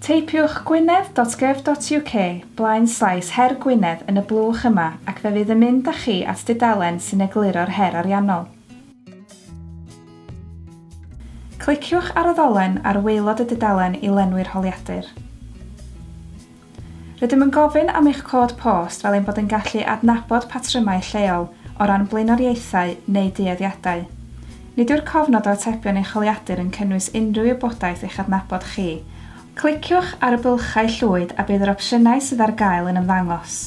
Teipiwch gwynedd.gov.uk blaen slaes Her Gwynedd yn y blwch yma ac fe fydd yn mynd â chi at dudalen sy'n egluro'r her ariannol. Cliciwch ar y ddolen ar waelod y dudalen i lenwi'r holiadur. Rydym yn gofyn am eich cod post fel ein bod yn gallu adnabod patrymau lleol o ran blaenoriaethau neu dueddiadau. Nid yw'r cofnod o atebion eich holiadur yn cynnwys unrhyw wybodaeth eich adnabod chi. Cliciwch ar y bylchau llwyd a bydd yr opsiynau sydd ar gael yn ymddangos.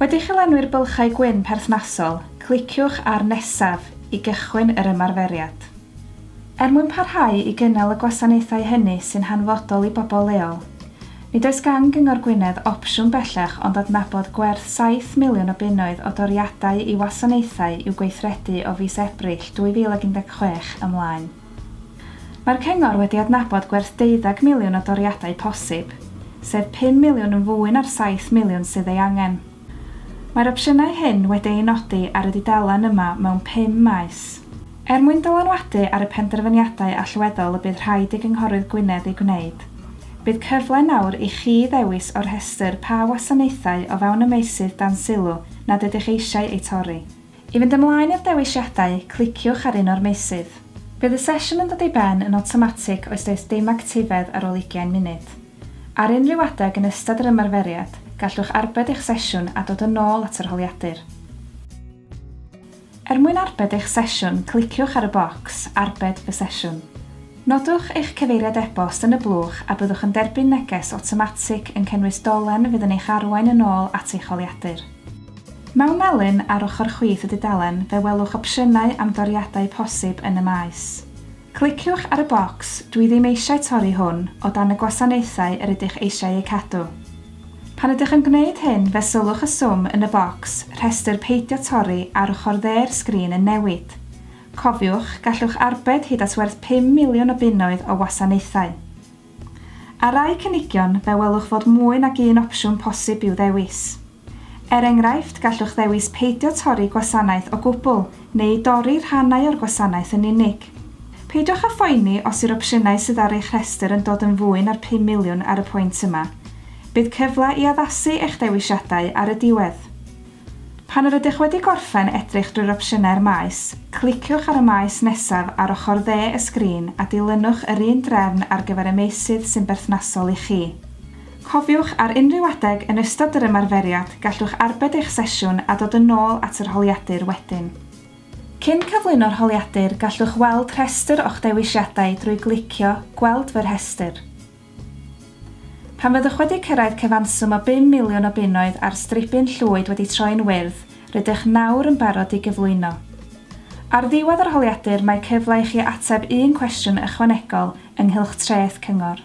Wedi i chi lenwi'r bylchau gwyn perthnasol, cliciwch ar Nesaf i gychwyn yr ymarferiad. Er mwyn parhau i gynnal y gwasanaethau hynny sy'n hanfodol i bobl leol, Nid oes gan Gyngor Gwynedd opsiwn bellach ond adnabod gwerth saith miliwn o bunnoedd o doriadau i wasanaethau i'w gweithredu o fis Ebrill 2016 ymlaen. Mae'r Cyngor wedi adnabod gwerth deuddeg miliwn o doriadau posib, sef pum miliwn yn fwy na'r saith miliwn sydd ei angen. Mae'r opsiynau hyn wedi eu nodi ar y dudalen yma mewn pum maes. Er mwyn dylanwadu ar y penderfyniadau allweddol y bydd rhaid i Gynghorydd Gwynedd eu gwneud, bydd cyfle nawr i chi ddewis o'r rhestr pa wasanaethau o fewn y meysydd dan sylw nad ydych eisiau eu torri. I fynd ymlaen i'r dewisiadau, cliciwch ar un o'r meysydd. Bydd y sesiwn yn dod i ben yn awtomatig os does dim actifedd ar ôl ugain munud. Ar unrhyw adeg yn ystod yr ymarferiad, gallwch arbed eich sesiwn a dod yn ôl at yr holiadur. Er mwyn arbed eich sesiwn, cliciwch ar y bocs 'Arbed fy sesiwn'. Nodwch eich cyfeiriad e-bost yn y blwch a byddwch yn derbyn neges awtomatig yn cynnwys dolen fydd yn eich arwain yn ôl at eich holiadur. Mewn melin ar ochr chwith y dudalen fe welwch opsiynau am doriadau posib yn y maes. Cliciwch ar y bocs 'Dwi ddim eisiau torri hwn o dan y gwasanaethau yr ydych eisiau eu cadw'. Pan ydych yn gwneud hyn, fe sylwch y swm yn y bocs 'Rhestr Peidio Torri' ar ochr dde'r sgrin yn newid. Cofiwch, gallwch arbed hyd at werth pum miliwn o bunnoedd o wasanaethau. Ar rai cynigion, fe welwch fod mwy nag un opsiwn posib i'w ddewis. Er enghraifft, gallwch ddewis peidio torri gwasanaeth o gwbl neu dorri rhannau o'r gwasanaeth yn unig. Peidiwch â phoeni os yw'r opsiynau sydd ar eich rhestr yn dod yn fwy na'r pum miliwn ar y pwynt yma. Bydd cyfle i addasu eich dewisiadau ar y diwedd. Pan yr ydych wedi gorffen edrych drwy'r opsiynau'r maes, cliciwch ar y maes nesaf ar ochr dde y sgrin a dilynwch yr un drefn ar gyfer y meysydd sy'n berthnasol i chi. Cofiwch, ar unrhyw adeg yn ystod yr ymarferiad, gallwch arbed eich sesiwn a dod yn ôl at yr holiadur wedyn. Cyn cyflwyno'r holiadur, gallwch weld rhestr o'ch dewisiadau drwy glicio 'Gweld fy rhestr'. Pan fyddwch wedi cyrraedd cyfanswm o bum miliwn o bunnoedd a'r stribyn llwyd wedi troi'n wyrdd, rydych nawr yn barod i gyflwyno. Ar ddiwedd yr holiadur mae cyfle i chi ateb un cwestiwn ychwanegol ynghylch treth cyngor.